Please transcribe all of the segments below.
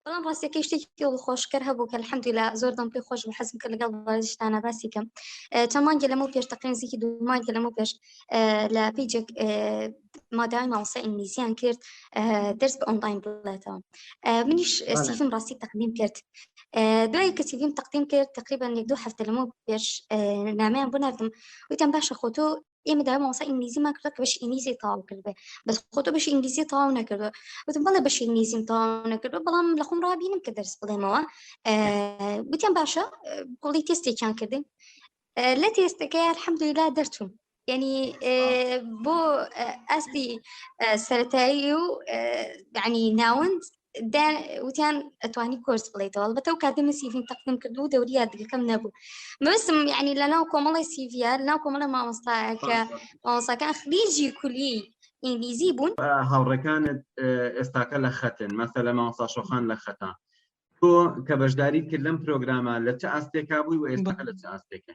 بەڵام ڕاستەکەی شتێکی خۆشکەر هەبوو کە الحمدللا زۆر دەم پێ خۆش حەزم کە لەگەڵ بازیشتانە باسی کەم چەند مانگە لەمە پێش تەقین زیکی دوو مانگە لەمە پێش لە پیجێک مادای ماوسە ئینگلیزیان کرد دەرس بە ئۆنلاین بڵێتەوە منیش سیفم ڕاستی تەقدیم کرد دوای کە سیفیم تەقدیم کرد تقریبا یەک دوو هەفتە لەمە پێش نامیان بۆ نردم وتم باشە خۆ تۆ ئێمە داوای مامۆستا ئینگلیزیمان کردو کە بەشی ئینگلیزی تەواو کردبێ بەس خۆ تۆ بەشی ئینگلیزی تەواو نەکردووە وتم بەڵێ بەشی ئینگلیزیم تەواو نەکردووە بەڵام لە خۆم ڕابینم کە دەرس بڵێمەوە گوتیان باشە بڵی تێستێکیان کردن لە تێستەکە الحەمدللا دەرچوون یعنی بۆ ئەستی سەتایی و ینی ناوند دا وتیان ئەتوانی کۆرس بڵیتەوە بەتە و کاتە من سیڤیم تەقدم کرد و دەوری یادگەکەم نەبوو مەسم یعنی لە ناو کۆمەڵی سیڤیا ناو کۆمەڵە مامۆستاکە مامۆستاکان خلیجی کولی ئینگلیزی بوون هاوڕەکانت ئێستاکە لە خەتن مەسە لە مامۆستا شۆخان لە خەتا تۆ کە بەشداری کرد لەم پرۆگرامە لە چه ئاستێکا بووی و ئێستاکە لە چه ئاستێکە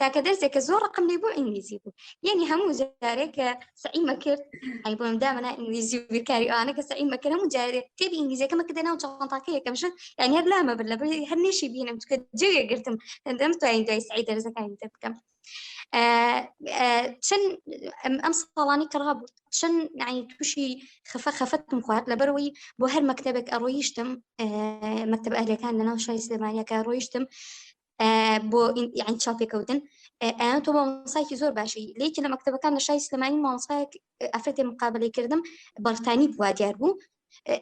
تاکە دەرسێک کە زۆر ڕقم لێ بۆ ئینگلیزی بوو یعنی هەموو جارێک کە سعیمە کرد ئەی بۆم دامەنا ئینگلیزی و بیرکاری ئەوانە کە سعیمە کرد هەموو جارێک تێبی ئینگلیزیەکەمە کە دەناو چاڵنتاکە یەکەم شت یعنی هەر لامە بر لە هەر نێشی بینم چکە جێ گرتم دەم توانین دوای سعی دەرزەکانی تێ بکەم چەند ئەم ساڵانی کەڕا بوو چەند نعی تووشی خفە خەفەتم خوارد لەبەرەوەی بۆ هەر مەکتتەبێک ئەڕۆیشتم مەکتب ئەهلەکان لەناو شای سلێمانیەکە ڕۆیشتم بۆ یعنی چاپێکەوتن ئەیان تۆ مامۆسایکی زۆر باشی لەیکی لە مەکتتەبەکان لە شای سلمانی مامۆسایەک ئەفرەتی مقابلی کردم بەڵتانی بووە دیار بوو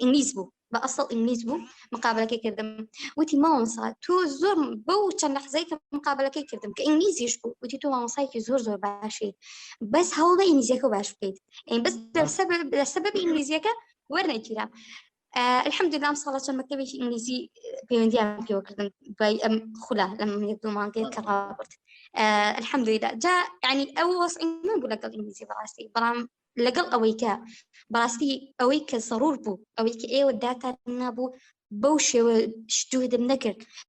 ئینگلیز بوو بە ئەسڵ ئینگلیز بوو مقابلەکەی کردم وتی مامۆسا تۆ زۆر بەو چەند لەحزای کە مقابلەکەی کردم کە ئینگلیزیش بوو وتی تۆ مامۆسایکی زۆر زۆر باشی بەس هەوڵە ئینگلیزیەکە باش بکەیت بەس لەسەب لەسەب ئینگلیزیەکە وەرنەگیرا الحمدلله ئەم ساڵە چەند مەکتەبێکی ئینگلیزی پەیوەندیان پێوە کردن دوای ئەم خولە لەم یەک دوو مانگێت کە ڕابرد الحمدلله جا ینی ئەو وەسعی من بوو لەگەڵ ئینگلیزی بەڕاستی بەڵام لەگەڵ ئەوەی کە بەڕاستی ئەوەی کە سەڕور بوو ئەوەی کە ئێوە داتان نابوو بەو شێوە شتوهدم نەکرد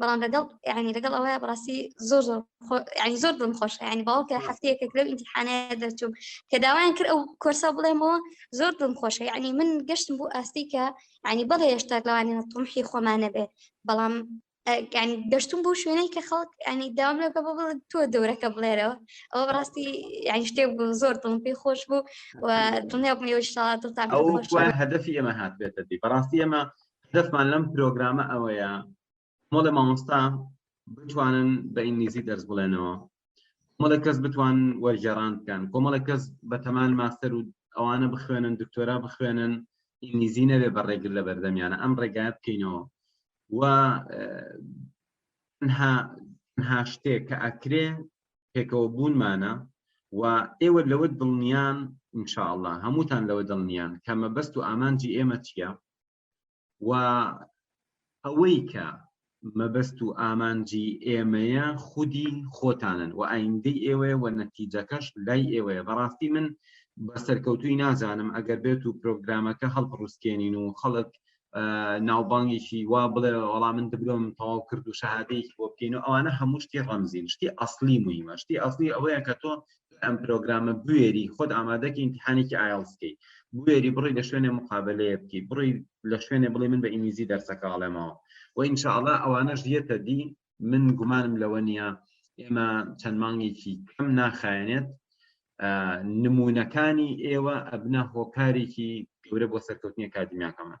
بەڵام لەگەڵ ینی لەگەڵ ئەوەیە بەڕاستی زۆر زۆر ینی زۆر بم خۆش ینی باوکە هەفتەیەکە لەو ئینتحانەیە دەچوم کە داوایان کرد ئەو کۆرسا بڵێمەوە زۆر بم خۆشە ینی من گەشتم بۆ ئاستی کە ینی بەڵێ هێشتا لەوانە تۆمحی خۆمانە بێت بەڵام ینی گەشتم بۆ شوێنەی کە خەڵک ینی داوام لەکە بە بڵێ تۆ دەورەکە بڵێرەوە ئەوە بەڕاستی ینی شتێک بوو زۆر دڵم پێی خۆش بوو و دڵنیا بم یۆشتا دڵتان هەدەفی ئێمە هاتبێتەتی بەڕاستی ئێمە هەدەفمان لەم پرۆگرامە ئەوەیە مۆڵە مامۆستا بتوانن بە ئینگلیزی دەرس بڵێنەوە مەڵە کەس بتوان وەرگێڕان بکەن کۆمەڵە کەس بە تەمان ماستەر و ئەوانە بخوێنن دکتۆرا بخوێنن ئینگلیزی نەبێ بە ڕێگر لە بەردەمیانە ئەم ڕێگای بکەینەوە و تەنها شتێک کە ئەکرێ پێکەوە بوونمانە و ئێوە لەوە دڵنیان انشاءله هەمووتان لەوە دڵنیان کە مەبەست و ئامانجی ئێمە چییە و ئەوەی کە مەبەست و ئامانجی ئێمەیە خودی خۆتانن و ئایندەی ئێوەیە و نەتیجەکەش لای ئێوەیە بەڕاستی من بە سەرکەوتوی نازانم ئەگەر بێت و پرۆگرامەکە هەڵپڕوسکێنین و خەڵک ناوبانگێکی وا بڵێ وەڵا من دبلۆم تەواو کرد و شەهادەیەکی بۆ بکەین و ئەوانە هەموو شتی ڕەمزین شتی ئەاصلی مهمە شتی ئەاصلی ئەوەیە کە تۆ ئەم پرۆگرامە بوێری خۆت ئامادەکی ئینتحانێکی ئایلسکەی بوێری بڕی لە شوێنێ مقابلەیە بکی بڕی لە شوێنێ بڵێ من بە ئینگلیزی دەرسەکەڵێمەوە و ئینشاءڵە ئەوانەش یەتە دی من گومانم لەوە نییە ئێمە چەند مانگێکی کەم ناخایەنێت نمونونەکانی ئێوە ئەبنە هۆکارێکی گەورە بۆ سەرکەوتنی کاتدیمیاکەمان